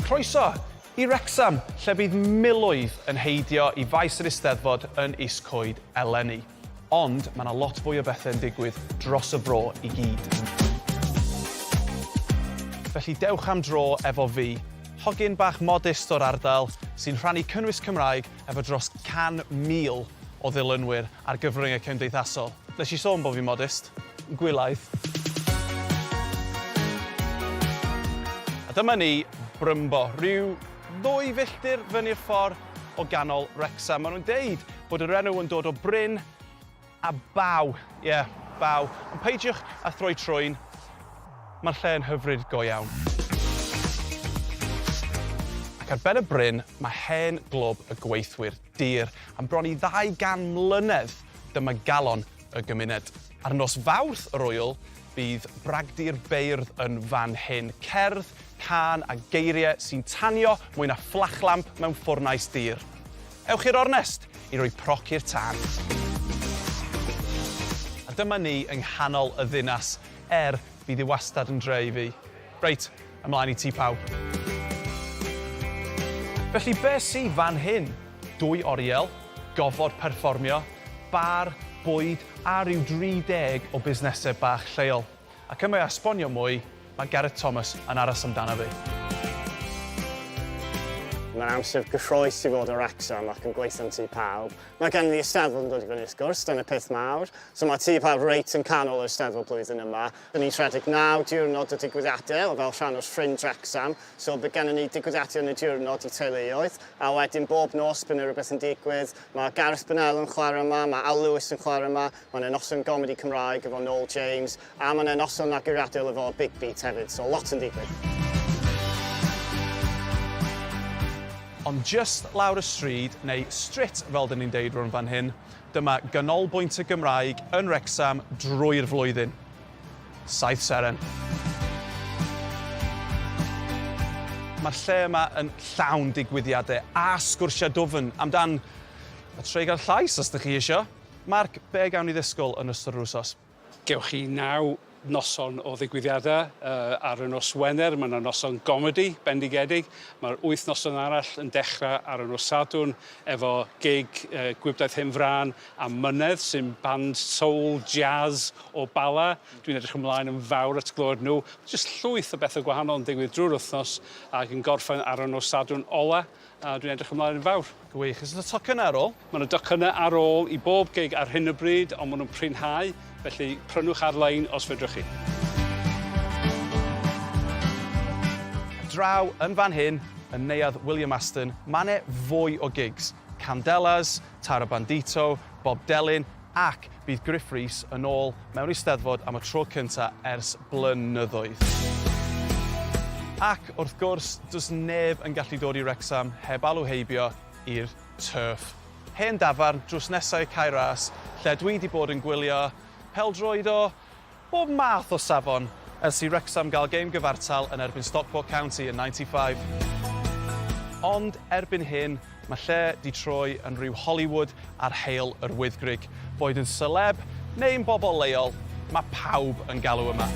Croeso i Wrecsam, lle bydd miloedd yn heidio i faes yr Eisteddfod yn Is Coed eleni. Ond mae 'na lot fwy o bethau yn digwydd dros y fro i gyd. Felly dewch am dro efo fi, hogyn bach modest o'r ardal sy'n rhannu cynnwys Cymraeg efo dros 100,000 o ddilynwyr Ar gyfryngau cymdeithasol. Nes i sôn bod fi'n modest. Gwylaith. A dyma ni, Brymbo, rhyw ddwy filltir fyny'r ffordd o ganol Wrecsam. Maen nhw'n deud bod yr enw yn dod o bryn a baw. Ie, baw. Ond peidiwch â throi trwyn. Mae'r lle yn hyfryd go iawn. Ac ar ben y bryn, mae hen glwb y gweithwyr. dir am bron i ddau gan mlynedd, dyma galon y gymuned. Ar nos Fawrth yr Ŵyl, bydd bragdy'r beirdd yn fan hyn, cerdd, cân a geiriau sy'n tanio mwy na fflachlamp mewn ffwrnais dir. Ewch i'r ornest i roi proc i'r tân. A dyma ni yng nghanol y ddinas, er, bydd hi wastad yn dre i fi. Reit, ymlaen i ti pawb. Felly be sy fan hyn? Dwy oriel, gofod perfformio, bar, bwyd a rhyw 30 o busnesau bach lleol. Ac yma i esbonio mwy, mae Gareth Thomas yn aros amdana fi. Mae'n amser gyffrous i fod o Wrecsam ac yn gweithio'n Tŷ Pawb. Mae gen i Eisteddfod yn dod i fyny wrth gwrs, dyna peth mawr. So mae Tŷ Pawb reit yn canol yr Eisteddfod blwyddyn yma. Dyn ni'n rhedeg naw diwrnod o digwyddiadau fel rhan o'r Ffrind Wrecsam, so bydd gennym ni digwyddiadau yn y diwrnod i teuluoedd, a wedyn bob nos bydd 'na rywbeth yn digwydd. Mae Gareth Bennell yn chwarae yma, mae Al Lewis yn chwarae yma, mae 'na noson gomedi Cymraeg efo Noel James, a mae 'na noson naguraduol efo Big Beat hefyd, so lot yn digwydd. Ond jyst lawr y stryd, neu strit fel 'dyn ni'n deud rownd fan hyn, Dyma ganolbwynt y Gymraeg yn Wrecsam drwy'r flwyddyn. Saith seren. Mae'r lle yma yn llawn digwyddiadau a sgwrsiau dwfn amdan y treigl llais os dych chi isio. Marc, be' gawn ni ddisgwyl yn ystod yr wsos? Gewch chi naw noson o ddigwyddiadau. Ar y nos Wener, mae 'na noson gomedi bendigedig. Mae'r wyth noson arall yn dechrau ar y nos Sadwrn efo gig Gwibdaith Hen Frân a Mynedd, sy'n band soul jazz o Bala. Dwi'n edrych ymlaen yn fawr at glywed nhw. Mae jyst llwyth o bethau gwahanol yn digwydd drwy'r wythnos ac yn gorffen ar y nos Sadwrn ola'. A dwi'n edrych ymlaen yn fawr. Gwych. Oes yna tocynnau ar ôl? Mae yna docynnau ar ôl i bob gig ar hyn o bryd, ond maen nhw'n prinhau, felly prynwch ar-lein os fedrwch chi. Draw yn fan hyn, yn Neuadd William Aston, mae 'ne fwy o gigs, Candelas, Tara Bandito, Bob Delyn, Ac bydd Gruff Rhys yn ôl mewn Eisteddfod am y tro cynta ers blynyddoedd. Ac, wrth gwrs, does neb yn gallu dod i Wrecsam heb alw heibio i'r Turf. Hen dafarn drws nesau Cae Ras lle dwi 'di bod yn gwylio pêl-droed o bob math o safon ers i Wrecsam gael gêm gyfartal yn erbyn Stockport County yn 95. Ond erbyn hyn, mae lle 'di troi yn rhyw Hollywood ar Heol yr Wyddgrug. Boed yn seleb neu'n bobol leol, mae pawb yn galw yma.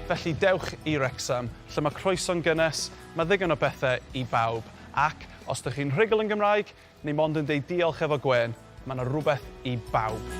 Felly dewch i Wrecsam, lle mae croeso'n gynnes, mae ddigon o bethe i bawb, ac os dych chi'n rhugl yn Gymraeg, Ni mond yn deud diolch efo gwên, mae 'na rwbeth i bawb.